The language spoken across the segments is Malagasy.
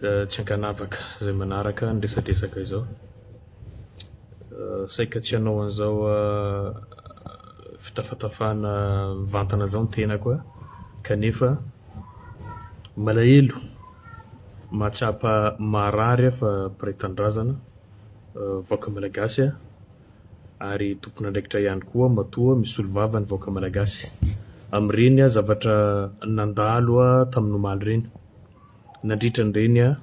Tsy ankanavaka izay manaraka ny resadresaka izao. Saika tsy hanao an'izao fitafatafana mivantana izao ny tenako kanefa malahelo mahatsapa marary aho fa mpiray tanindrazana, vahoaka malagasy aho ary tompon'andraikitra ihany koa matoa misolo vava ny vahoaka malagasy amin'ireny zavatra nandalo tamin'ny omaly ireny. nandritra an'ireny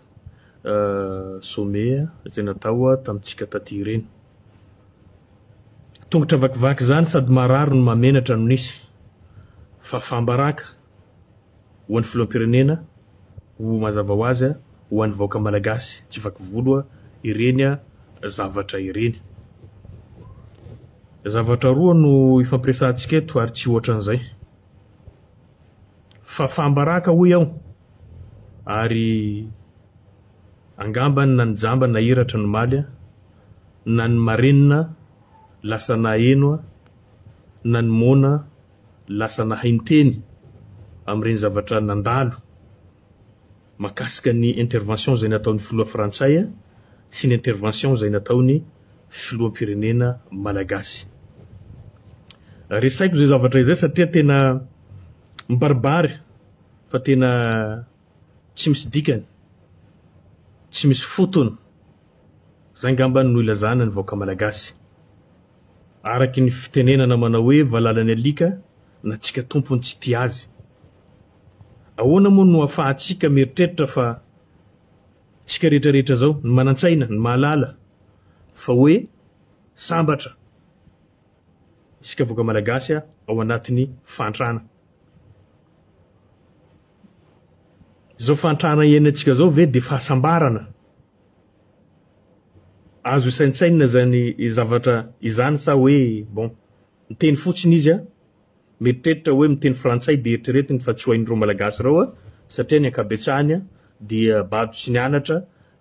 sommet izay natao tamintsika taty ireny. Tongotra vakivaky izany sady marary no mahamenatra no nisy fa fambaraka ho an'ny filoham-pirenena ho mazava ho azy ho an'ny vahoaka malagasy tsy vaky volo ireny zavatra ireny. Zavatra roa no ifampiresahantsika eto ary tsy hoatran'izay. Fafam-baraka hoy aho ary angambany na ny jamba nahiratra nomaly a, na ny marenina lasa naheno a, na ny moana lasa nahay niteny amin'ireny zavatra nandalo. Mahakasika ny intervention izay nataon'ny filoha frantsay sy ny intervention izay nataon'ny filoham-pirenena malagasy. Resaiko izay zavatra izay satria tena mibaribary fa tena tsy misy dikany, tsy misy fotony. Izay ngambany no ilazana ny vahoaka malagasy. Araky ny fitenenana manao hoe valala ny alika na tsika tompony tsy tia azy. Ahoana moa no afahantsika mieritreritra fa isika rehetra rehetra izao, ny manan-tsaina, ny mahalala, fa hoe sambatra isika vahoaka malagasy ao anatin'ny fahantrana? Izao fahantrana iainantsika izao ve dia fahasambarana? Azo isaintsainina izany zavatra izany sa hoe bon, miteny fotsiny izy a? Mieritreritra hoe miteny frantsay dia eritreretiny fa tsy ho hain'ireo malagasy ireo a! satria ny ankabetsahany a! dia bado tsy nianatra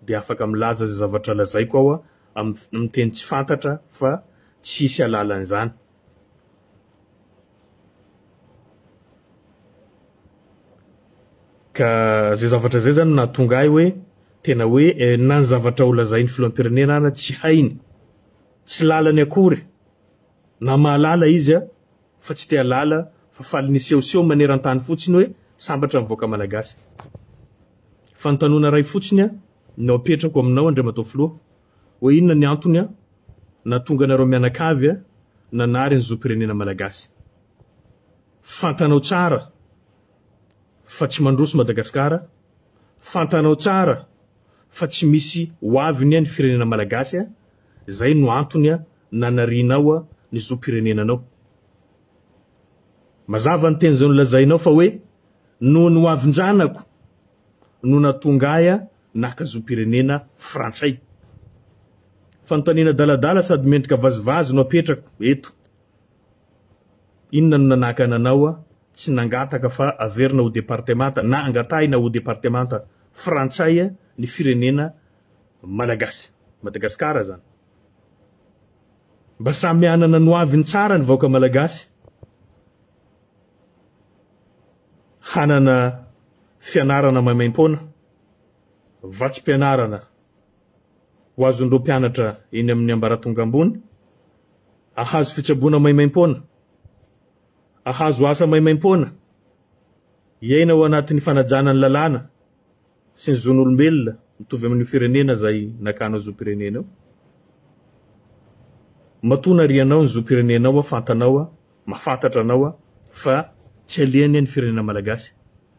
dia afaka milaza izay zavatra lazaiko aho a! amin'ny teny tsy fantatra fa tsy hisy hahalala an'izany. Ka izay zavatra izay izany no nahatonga ahy hoe tena hoe na ny zavatra holazain'ny filoham-pirenena ara tsy hainy, tsy lalany akory. Na mahalala izy fa tsy te halala fa faly nisehoseho manerantany fotsiny hoe sambatra ny vahoaka malagasy. Fanontanona iray fotsiny no apetrako aminao Andriamatoa Filoha, hoe inona ny antony nahatonga anareo mianakavy nanary ny zom-pirenena malagasy. Fantanao tsara fa tsy mandroso Madagasikara, fantanao tsara fa tsy misy ho avy ny firenena malagasy. Izay no antony nanarianao ny zom-pirenenanao. Mazava ny teny izay nolazainao fa hoe noho ny hoavin-janako no nahatonga ahy naka zom-pirenena frantsay. Fanontaniana adaladala sady mendrika vazivazy no apetrako eto. Inona no nanakana anao tsy nangataka fa averina ho departemanta na angatahina ho departemanta frantsay ny firenena Malagasy. Madagascar zany. Mba samy hanana ny ho aviny tsara ny vahoaka Malagasy. Hanana fianarana maimaimpoana, vatsim-pianarana ho azon'ireo mpianatra eny amin'ny ambaratonga ambony, ahazo fitsaboana maimaimpoana, ahazo asa maimaimpoana, hiaina ao anatin'ny fanajana ny lalàna, sy ny zon'olombelona mitovy amin'io firenena izay nakanao zom-pirenena io. Matoa narianao ny zom-pirenenao aho, fantanao aho, mahafantatra anao aho, fa tsy alehany ny firenena malagasy,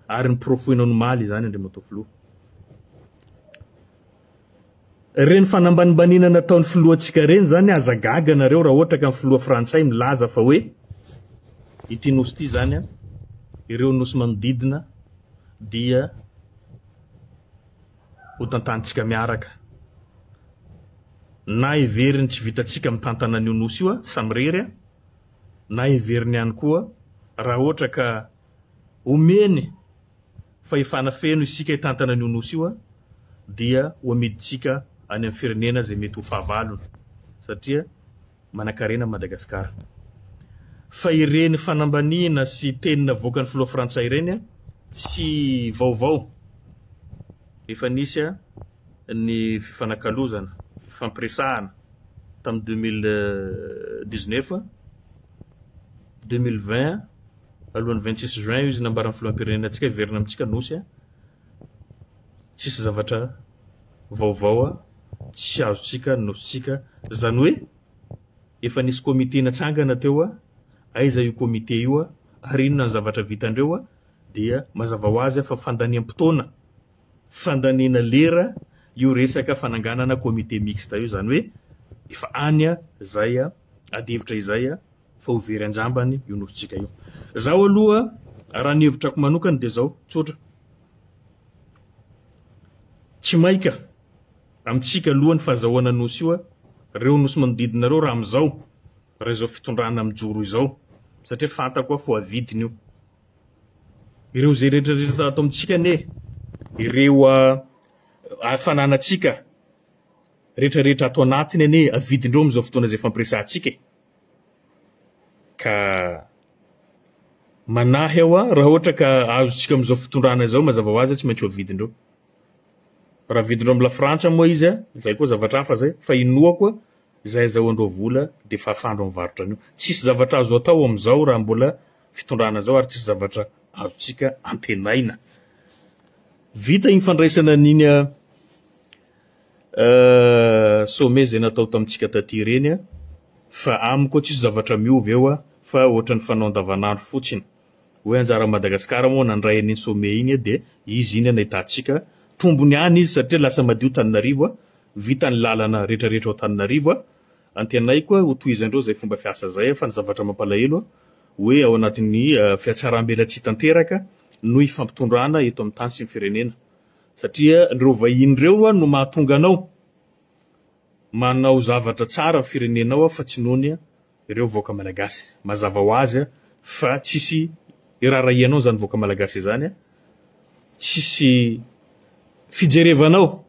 ary noporofoinao nomaly izany Andriamatoa Filoha. Reny fanambanimbaniana nataony filohantsika reny zany aza gaga nareo raha ohatra ka ny filoha frantsay milaza fa hoe ity nosy ity zany an ireo nosy manodidina dia ho tantanintsika miaraka na heveriny tsy vitantsika mitantana an'io nosy io a samirery a na heveriny ihany koa raha ohatra ka Omeny fahefana feno isika hitantana an'io Nosy io dia ho amidintsika any amin'ny firenena izay mety ho fahavalony satria manankarena Madagascar. Fa ireny fanambaniana sy teny navoakan'ny filoha frantsay ireny tsy vaovao. Efa nisy ny fifanakalozana, fifampiresahana tamin'ny 2019, 2020, Alohan'ny vingt six juin io izy nambaran'ny filoham-pirenena antsika hiverina amintsika Nosy a! tsisy zavatra vaovao a! tsy azontsika ny Nosintsika, izany hoe efa nisy comité natsangana teo a! aiza io comité io a! ary inona ny zavatra vitandreo a! dia mazava ho azy a! fa fandaniam-potoana, fandaniana lera io resaka fananganana comité mixte io, izany hoe efa any a! izay a! ady hevitra izay a! fa ho very an-jambany io nofontsika io. Zaho aloha raha ny hevitrako manokana dia zao, tsotra. Tsy maika amintsika aloha ny fazahoana nosy io, reo nosy manodidina reo raha amizao, raha izao fitondrana mijoro izao, satria fantako fa ho avidiny io. Ireo ze rehetra rehetra ato amintsika anie, ireo fananatsika rehetra rehetra ato anatiny anie avidindreo amizao fotoana izay fampiresahantsika e. Ka manahy aho aho, raha ohatra ka azontsika amin'izao fitondrana izao, mazava ho azy tsy maintsy ho avidin-dreo. Raha avidin-dreo amin'ny lafrantsa moa izy, izay koa zavatra hafa izay, fa inoako izay azahoan-dreo vola dia fafan-dreo ny varotra an'io. Tsisy zavatra azo atao amin'izao raha mbola fitondrana izao ary tsisy zavatra azontsika antenaina. Vita iny fandraisana an'iny Sommet izay natao tamintsika taty ireny a, fa aminy koa tsisy zavatra miova eo a, fa ohatran'ny fanao andavanandro fotsiny. Hoe anjaran'i Madagasikara moa nandray an'iny sommet iny a, dia izy iny a nahitantsika tombony ihany izy satria lasa madio Tananarivo a, vita ny lalana rehetra rehetra ao Tananarivo a, antenaiko a ho tohizandreo izay fomba fiasa izay a, fa ny zavatra mampalahelo a, hoe ao anatin'ny fiatsaram-belatsihy tanteraka no ifampitondrana eto amin'ny tany sy ny firenena. Satria ireo vahiny ireo no mahatonga anao manao zavatra tsara ny firenenao fa tsy nohony ireo vahoaka malagasy. Mazava ho azy fa tsisy irarahianao izany vahoaka malagasy izany, tsisy fijerevanao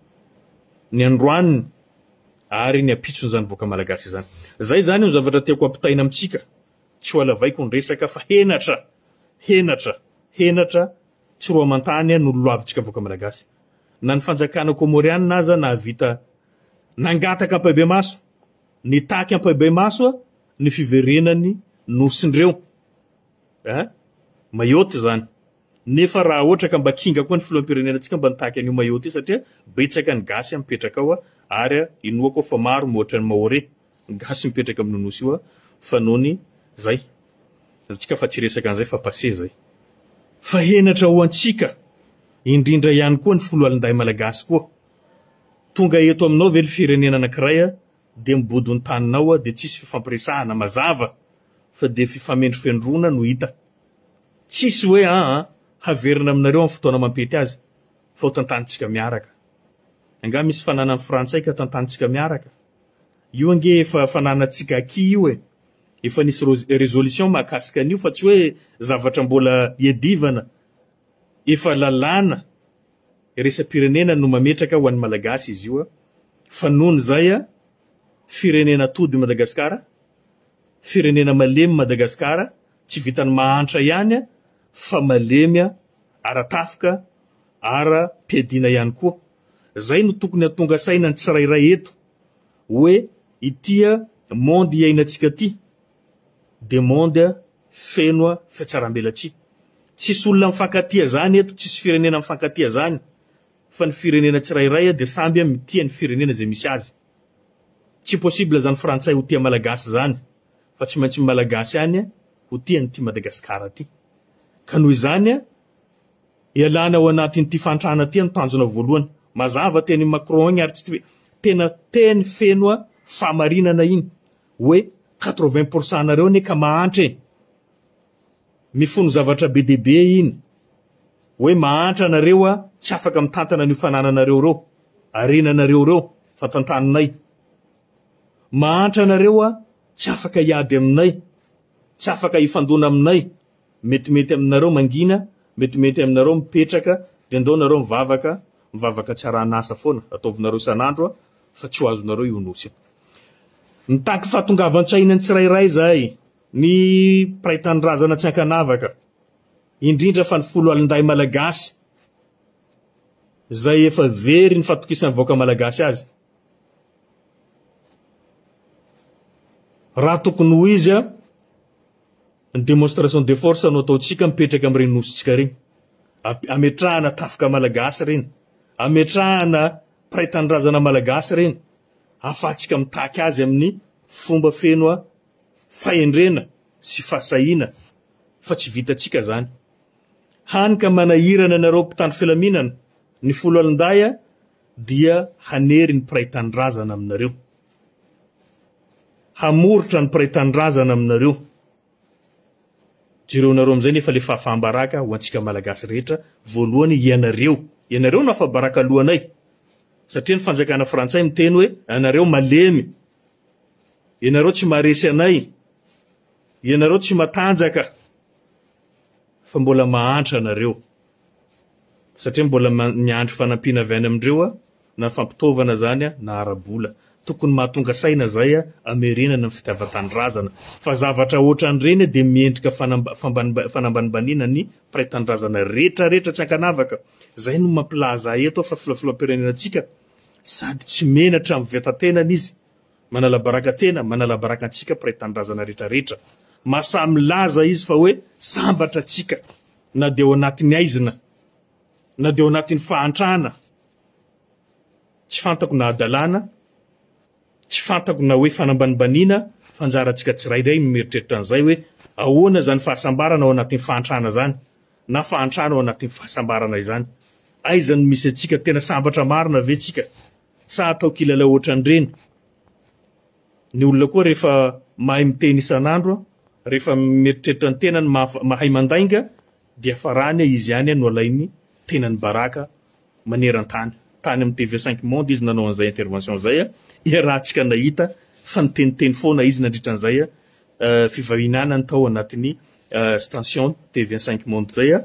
ny androaniny ary ny ampitsony izany vahoaka malagasy izany. Izay izany no zavatra tiako ampitaina amintsika, tsy ho alavaiko ny resaka fa henatra, henatra, henatra, Tsy roa aman-tany no lolavintsika vahoaka Malagasy. Na ny fanjakana Kômôriana aza nahavita nangataka ampahibemaso, nitaky ampahibemaso ny fiverenan'ny Nosin'ireo eh, Mayotte izany. Nefa raha ohatra ka mba kinga koa ny filoham-pirenenantsika mba nitaky an'io Mayotte io satria betsaka ny gasy mipetraka ao ary inoako aho fa maro mihoatra ny Maore. Gasy mipetraka amin'io nosy io a fa nony zay azontsika fa tsy resaka an'izay fa passé zay fa henatra ho antsika indrindra ihany koa ny foloalindahy malagasy koa tonga eto aminao ve le firenena anakiray a de mibodo ny taninao a de tsisy fifampiresahana mazava fa de fifamendrofendrona no hita tsisy hoe a a haverina aminareo amin'ny fotoana mampety azy fa ho tantanintsika miaraka angaha misy fananan'ny frantsay ka tantanintsika miaraka Io ange efa fananantsika acquis io e! Efa nisy resolution mahakasika an'io fa tsy hoe zavatra mbola iadivana, efa lalàna iraisam-pirenena no mametraka ho an'ny Malagasy izy io fa noho ny zay firenena atody Madagasikara, firenena malemy Madagasikara, tsy vitan'ny mahantra ihany fa malemy ara-tafika, ara-piadiana ihany koa. Zay no tokony hatonga saina ny tsirairay eto oe ity a monde iainantsika ty de monde feno a fiatsarambelatsihy. Tsisy olona mifankatia zany eto, tsisy firenena mifankatia zany fa ny firenena tsirairay a de samby a mitia ny firenena zay misy azy. Tsy possible zany frantsay ho tia malagasy zany fa tsy maintsy ny malagasy ihany ho tia an'ity Madagascar ty. Ka noho izany a Ialana ao anatin'ity fahantrana ity no tanjona voalohany. Mazava teny i Macron igny ary tsy twe tena teny feno fahamarinana igny hoe quatre vingt pour cent nareo anie ka mahantra e. Mifono zavatra be dia be igny hoe mahantra nareo a tsy afaka mitantana an'io fanananareo reo, harenanareo reo, fantantaninay. Mahantra nareo a tsy afaka hiady aminay, tsy afaka hifandona aminay. Metimety aminareo mangina, metimety aminareo mipetraka, de ndao nareo mivavaka, mivavaka tsy arahan'asa foana, ataovinareo isan'andro a, fa tsy ho azonareo io Nosy io. Mitaky fahatongavan-tsaina ny tsirairay izahay, ny mpiray tanindrazana tsy ankanavaka, indrindra fa ny foloalindahy malagasy, izay efa very ny fatokisan'ny vahoaka malagasy azy. Raha tokony ho izy a, Ny demonstration de force no ataontsika mipetraka amin'ireny nosintsika ireny. Ametrahana tafika malagasy ireny. Ametrahana mpiray tanindrazana malagasy ireny. Ahafahantsika mitaky azy amin'ny fomba feno fahendrena sy fahasahiana fa tsy vitantsika izany. Hany ka manahirana anareo mpitandro filaminana ny foloalindahy dia hanery ny mpiray tanindrazana aminareo. hamoritra ny mpiray tanindrazana aminareo jereonareo amin'izay nefa le fahafaham-baraka ho antsika malagasy rehetra voalohany ianareo ianareo no afa-baraka lohanay satria ny fanjakana frantsay miteny hoe anareo malemy ianareo tsy maharesy anay ianareo tsy matanjaka fa mbola mahantra anareo satria mbola miandry fanampiana avy any amindreo aho na fampitaovana izany aho na ara-bola. Tokony mahatonga saina izay aho hamerenana ny fitiavan-tanindrazana. Fa zavatra ohatran'ireny dia miendrika fanambanimbaniana ny mpiray tanindrazana rehetra rehetra tsy ankanavaka. Izay no mampilaza ahy eto aho fa filohafiloham-pirenenantsika sady tsy menatra amin'ny veta-tenany izy. Manalabaraka tena, manalabaraka antsika mpiray tanindrazana rehetra rehetra. Mahasahy milaza izy fa hoe sambatra antsika. Na dia ao anatin'ny aizina, na dia ao anatin'ny fahantrana, tsy fantako na hadalana, tsy fantako na hoe fanambanibaniana, fa anjarantsika tsirairay ny mieritreritra an'izay hoe ahoana izany fahasambarana ao anatin'ny fahantrana izany, na fahantrana ao anatin'ny fahasambarana izany. Aiza no misy antsika? Tena sambatra marina ve tsika? Sa atao kilalao ohatran'ireny? Ny olona koa rehefa mahay miteny isan'andro, rehefa mieritreritra ny tenany, mahay mandainga, dia farany izy ihany no alain'ny tenany baraka maneran-tany. Tany amin'ny TV Cinq Monde izy nanao an'izay intervention izay, iarahantsika nahita fa niteniteny foana izy nandritra an'izay fivahinianany tao anatin'ny station TV Cinq Monde izay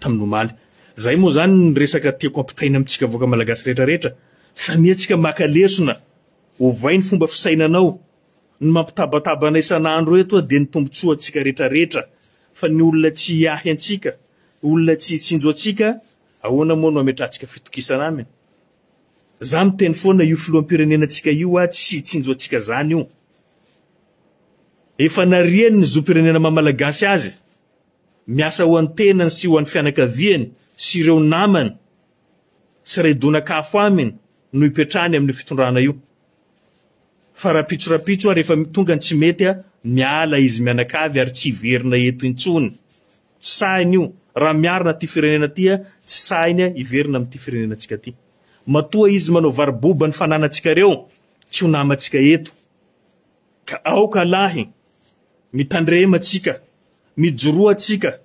tamin'ny omaly. Izay moa izany ny resaka tiako ampitaina amintsika vahoaka malagasy rehetrarehetra, samiantsika maka lesona. Ovay ny fomba fisainanao. Ny mampitabataba anay isan'andro eto dia ny tombotsoa antsika retraretra fa ny olona tsy hiahy antsika, olona tsy hitsinjo antsika ahoana moa no ametrahantsika fitokisana aminy? Za miteny foana io filoham-pirenena antsika io a tsy hitsinjo antsika zany io. Efa nariany ny zom-pirenena maha malagasy azy. Miasa ho an'ny tenany sy ho an'ny fianakaviany sy ireo namany. sy redonak'afo aminy no ipetrahany amin'io fitondrana io. Fa rapitso rapitso ary efa tonga ny tsy mety a, miala izy mianakavy ary tsy hiverina eto intsony. Tsy sahiny io, raha miarina ty firenena ty a, tsy sahiny a hiverina amin'ity firenenantsika ty. Matoa izy manao varo-boba ny fananantsika reo, tsy ho namantsika eto. Ka aoka lahy, mitandrema tsika, mijoroa tsika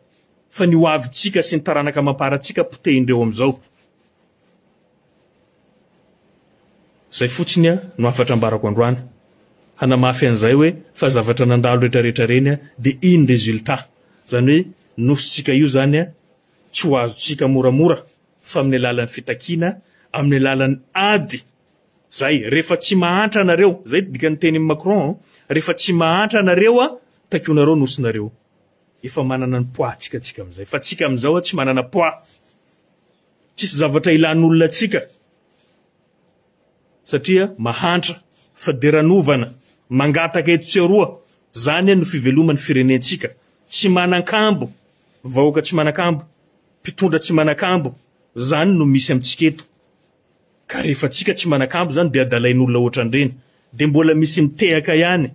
fa ny hoavy tsika sy ny taranaka amam-para tsika potehin-dreo amizao. Zay fotsiny no hafatra ambarako androany, hanamafy anizay hoe fa zavatra nandalo retraretra reny de iny resultat zany hoe nosy tsika io zany tsy ho azo tsika moramora fa aminy alalan'ny fitakiana, aminy alalan'ny ady Zay, refa tsy mahantra anareo, zay dikany teniny Macron, refa tsy mahantra anareo a takonareo nosy nareo, efa manana ny poids tsika tsika amizay, fa tsika amizao a tsy manana poids, tsisy zavatra ilan'olona tsika, satria mahantra, faderanovana, mangataka eto tsy aroa, zany a no fivelomany firenentsika, tsy manankambo, vahoaka tsy manakambo, mpitondra tsy manakambo, zany no misy amitsika eto. Ka rehefa antsika tsy manakambo zany dia adalain'olona ohatran'ireny dia mbola misy mitehaka ihany.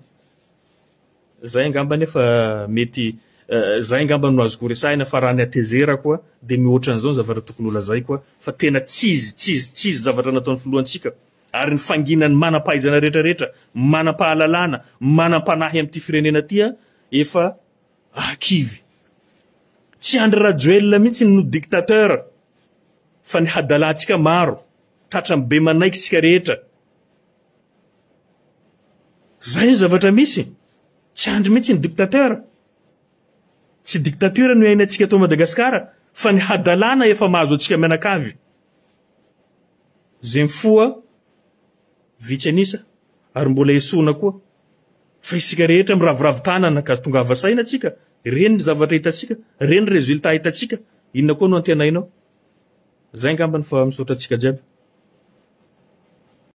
Zay angamba nefa mety zay angamba no azoko resahina fa raha ny hatezerako a dia mihoatra an'izao ny zavatra tokony holazaiko a fa tena tsizy tsizy tsizy zavatra nataon'ny filohantsika ary ny fanginan'ny manam-pahaizana rehetra rehetra, manam-pahalalana, manam-panahy amin'ity firenena ity a efa Ah kivy. Tsy Andry Rajoelina mihitsy no dictateur fa ny hadalantsika maro tratran'ny be manaiky isika rehetra. Zay ny zavatra misy. Tsy Andry mihitsy ny dictateur. Tsy dictature no iainantsika eto Madagascar fa ny hadalana efa mahazo antsika mianakavy. Zay mifoha vitsy an'isa ary mbola esoina koa. Fa isika rehetra miraviravy tanana ka tongava saina tsika, reny ny zavatra hitantsika, reny ny résultat hitantsika, inona koa no antenainao? Zay angambany fa misaotra antsika jiaby.